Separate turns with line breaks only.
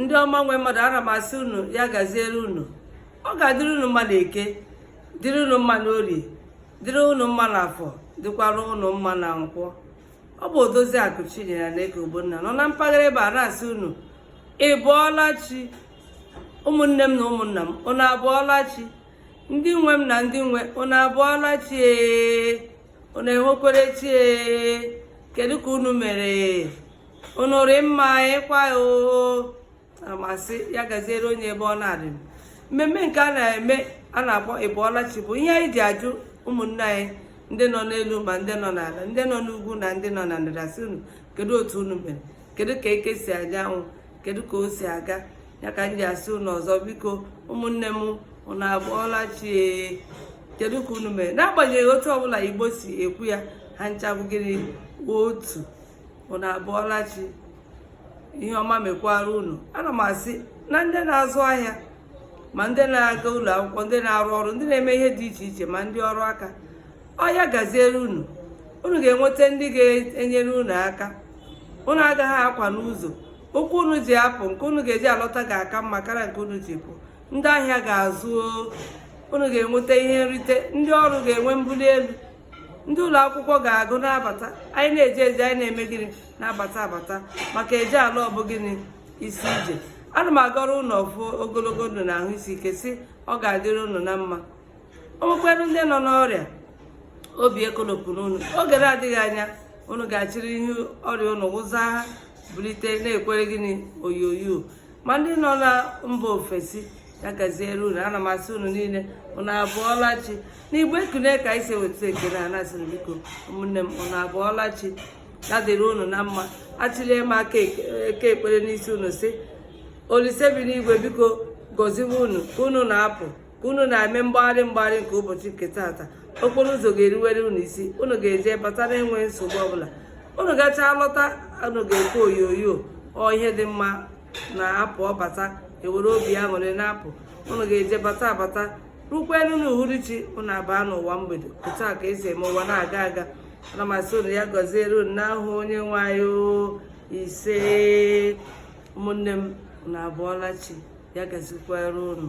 ndị ọma nwe mmadụ ana m asị unu ya gaziere unu ọ ga-adịrị unu mma na eke dịrị unu mma na orie dịrị unu mma na afọ dịkwara unu mma na nkwọ ọ bụ odozi akụ chinyere nneka ogbonna nọ na mpaghara ebe a na-asị unu ị bụọla chi ụmụnne m na ụmụnna m unu abụọla chi ndị nwe m na ndị nwe unu abụọla chi ee unu enwekwere chi ee kedu ka unu mere unu rị mma ịkwa oo ana m asị ya gaziere onye ebe ọ na-adị mmemme nke a na-eme a na-akpọ ịbụọlachi bụ ihe anyị ji ajụ ụmụnne anyị ndị nọ n'elu ma ndị nọ n'ala ndị nọ n'ugwu na ndị nọ na ndịda sị unu kedu otu unu mere kedu ka eke si anya anwụ kedu ka o si aga ya ka m ji asị unu ọzọ biko ụmụnne m unu abụọla chi kedu ka unu mere n'agbanyeghị otu ọbụla igbo si ekwu ya ha ncha bụ gịnị otu unu abụọla chi ihe ọma mekwara unu ana m asị na ndị na-azụ ahịa ma ndị na-aga ụlọ akwụkwọ ndị na-arụ ọrụ ndị na-eme ihe dị iche iche ma ndị ọrụ aka ọ ya gaziere unu unu ga-enweta ndị ga-enyere unu aka unu agaghị akwa n'ụzọ ụkwụ unu ji apụ nke unu ga-eji alọta ga-aka mma karịa nke unu ji pụ ndị ahịa ga-azụ unu ga-enweta ihe nrite ndị ọrụ ga-enwe mbuli elu ndị ụlọ akwụkwọ ga-agụ na-abata anyị na-eje eje anyị na-eme gịnị na-abata abata maka eje ala ọ bụ gịnị isi ije ana m agọrọ unu ọfọ ogologo ndụ na ahụ isi ike sị ọ ga-adịrị unu na mma o nwekwara ndị nọ n'ọrịa obi ekolopụna unu oge na-adịghị anya unu ga-achịrị ihe ọrịa unu wụza ha bulite na-ekwere gịnị oyoyo ma ndị nọ na mba ofesi ya gaziere unu ana m asị unu niile unu abụọla chi n'igbo ekunie ka anyị si eweta ekene a na-asịrị biko ụmụnne m unu abụọla chi ya dịrị unu na mma achịlie m aka ekpere n'isi unu sị olise bi n'igwe biko gọziwe unu ka unu na-apụ ka unu na-eme mgbagharị mgbagharị nke ụbọchị nke taata okporo ụzọ ga-eriwere unu isi unu ga-eje bata na-enweghị nsogbu ọbụla unu gachaa lọta unu ga-ekwe oyoyo ọ ihe dị mma na-apụ ọ bata ewere obi aṅụrị na-apụ unu ga-eje bata abata rukwanụ na uhuruchi unu abaa n'ụwa mgbede otu a ka esi eme ụwa na-aga aga ana m asị unu ya gọziere unu n'aha onye nwe anyị ise ụmụnne m unu abụọla chi ya gazikwara unu